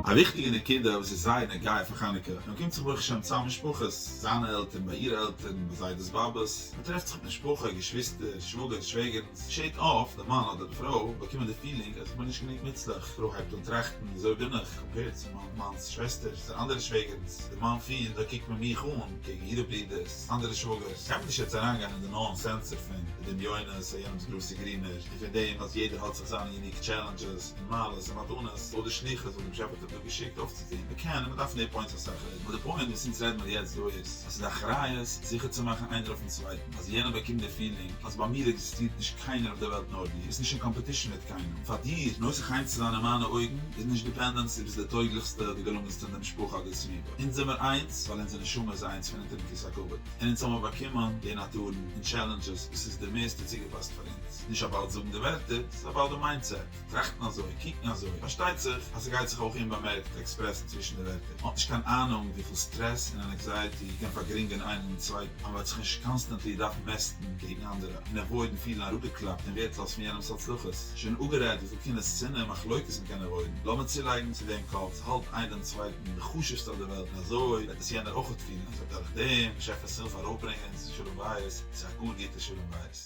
א וויכטיגע נקודה וואס איז זייער נוגע פאר חנוכה, מען קומט זיך ברוך השם צאם משפחות, זיינע עלטערן ביי אירע עלטערן, ביי זיידעס באבעס, מען טרעפט זיך מיט משפחה, געשוויסטער, שוואגערס, שוועגערן, ס'געשעהט אפט, די מאן אדער די פרוי באקומען די פילינג אז איך בין נישט גענוג מוצלח, פרוי הייבט אן טראכטן וויאזוי בין איך קאמפעירד צו מיין מאנ'ס שוועסטערס און אנדערע שוועגערנס, די מאן פילט אזוי קוקט מען מיך אן קעגן אירע ברידערס, אנדערע שוואגערס, קען מען נישט יעצט אריינגיין אין די נאו סענסער פון די דמיונות און יענעמ'ס גראסע גרינער. און פון דעם אז יעדער האט זיך זיינע יוניק טשעלענדזשעס און מעלות און מתנות אדער שליחות וואס דעם שעפער האט אים דא געשיקט אויפצוטון, מען קען און מען דארף נער פוינטס אסאך רעדן, אבער די פוינט וואס אונז רעדן מיר יעצט דא איז, אז ס'איז א אחריות זיכער צו מאכן איינער אויפן צווייטן, אז יענער באקומט די פילינג אז ביי מיר עקזיסטירט נישט קיינער אויף די וועלט נאר דו, ביסט נישט אין קאמפעטישן מיט קיינעם, פאר דיר נוסח חיים צו זיין אין מיינע אויגן איז נישט דיפענדענס דו ביסט די טויגליכסטע, די געלונגענסטע אין די משפחה אדער סביבה, אונז זעמיר איינס ווייל אונזער נשמה איז איינס פון אונטערן כיסא כבוד, און אונז האמיר באקומען די נאטורן און טשעלענדזשעס וואס איז די מערסטע צוגעפאסט איז נישט אבאוט זאגן די ווערטער, עס איז אבאוט די מיינדסעט, טראכטן אזוי, קוקן אזוי, פארשטייט זיך אז ס'גייט זיך אויך אומבאמערקט עקספרעסן צווישן די ווערטער, מען האט נישט קיין אהנונג וויפיל סטרעס און ענעקזייעטי קען פארגרינגען איינעם דעם צווייטן, אז מען וועט זיך נישט קאנסטענטלי דארפן מעסטן קעגן אנדערע, און עוואוידן פילן אראפגעקלאפט און ווערטלאז פון יענעמ'ס הצלחות, שוין אפגערעדט וויפיל קנאה שנאה און מחלוקת מען קען עוואוידן, לאמיר צולייגן צו דעם קאלט, ס'האלט איין דעם צווייטן און די חשוב'סטע אויף די וועלט און אזוי וועט עס יענער אויכעט פילן אז ער האט דורך דעם באשעפער'ס הילף ארויפברענגען זיין שלום בית צו א גאר גוטע שלום בית.